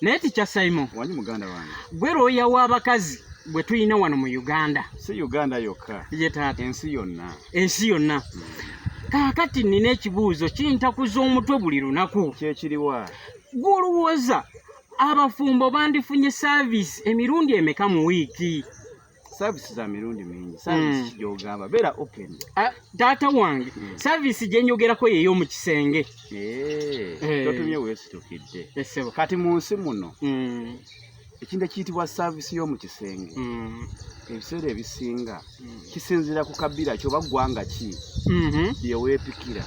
naye tikya saimo wanyi muganda wange gwe looya w'abakazi gwe tulina wano mu uganda si uganda yokka ye taata ensi yonna ensi yonna hmm. kaakati nnina ekibuuzo kintakuza omutwe buli lunaku kyekiriwa gw'olowooza abafumbo bandifunye saaviisi emirundi emeka mu wiiki service za mirundi mingi service mm. kijogamba bera open uh, data wange mm. service jenjogera ko yeyo mu kisenge eh hey. Eh. totumye wese tukidde esebo kati mu nsi muno mm. ekintu ekiyitibwa service yo mu kisenge mm. ebiseera ebisinga mm. kisinzira ku kabira kyo bagwanga ki mm -hmm. yewepikira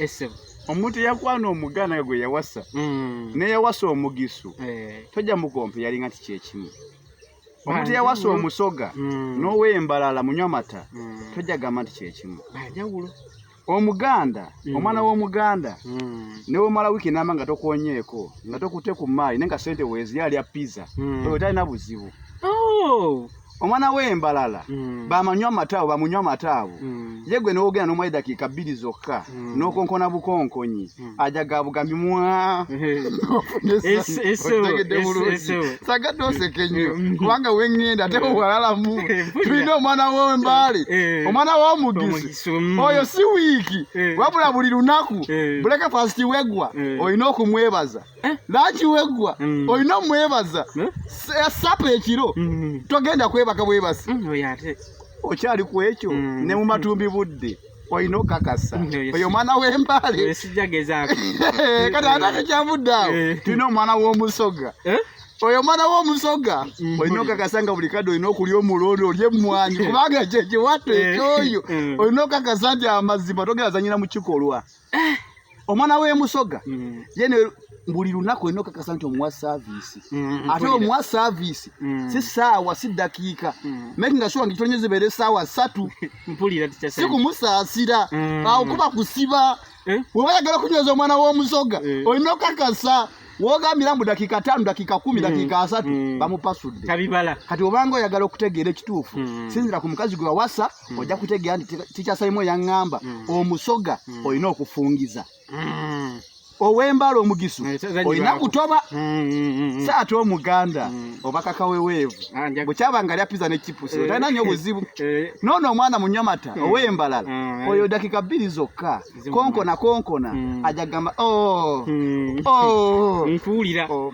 esebo omuntu eyakwana omugana gwe yawasa mm. neyawasa omugisu eh. toja mukompe yalinga ti kyekimu omuntu yawasa omusoga mm. n'owembalala munywa mata mm. tojja gamba nti kyekimu banjawulo omuganda mm. omwana w'omuganda newomala wiiki namba nga tokonyeeko nga tokute ku maali naye nga sente weziyo alya pizza oyo talina buzibu oh! omwana w'embalala mm. bamanywa amata abo bamunywa amata abo mm. ye gwe nowogera n'omwali dakiika bbiri zokka mm. n'okonkona bukonkonyi Hmm. ajaga bugambi mwa sagadde oseka ennyo hmm. Hmm. kubanga wengenda ate wewalalamu tulina omwana wembaale omwana womugisi oyo si wiiki wabula buli lunaku buleke fasiti weggwa olina okumwebaza eh? laki weggwa olina omwebaza eh? Eh, sapa ekiro togenda kwebaka bwebasi okyali ku ekyo ne mu matumbi budde olina okakasa oyo omwana w'embale kati ate tekyavudde awo eh. tulina omwana w'omusoga eh? oyo omwana w'omusoga mm. olina okakasa nga buli kadde olina okulya omulondo olya emmwanyi eh. kubanga kyekiwato ekyoyo olina okakasa nti amazima togera zanyira mu kikolwa eh, omwana w'emusoga mm. ye buli lunaku olina okakasa nti omuwa saaviisi mm, ate omuwa saaviisi mm. si saawa si ddakiika mm. meki nga shuwa ngitonyo zibeera esaawa satu si kumusaasira awo kuba kusiba eh? weba yagala okunyweza omwana w'omusoga eh. olina okakasa wogambira mbu dakiika tano dakiika kumi dakiika asatu bamupasudde kati obanga oyagala okutegeera ekituufu sinzira ku mukazi gwe wawasa mm. ojja kutegeera nti tikyasalimu eyaŋŋamba mm. omusoga mm. olina okufungiza mm. ow'embala omugisu eh, olina kutoba mm, mm, mm, saati omuganda oba kakaweweevu ah, bwekyaba nga lya piza ne kipusi eh. otalina nyo buzibu eh. noono omwana munyamata ow'embalala oyo dakika bbiri zokka konkona konkona ajagamba oh, oh. nkuwulira oh,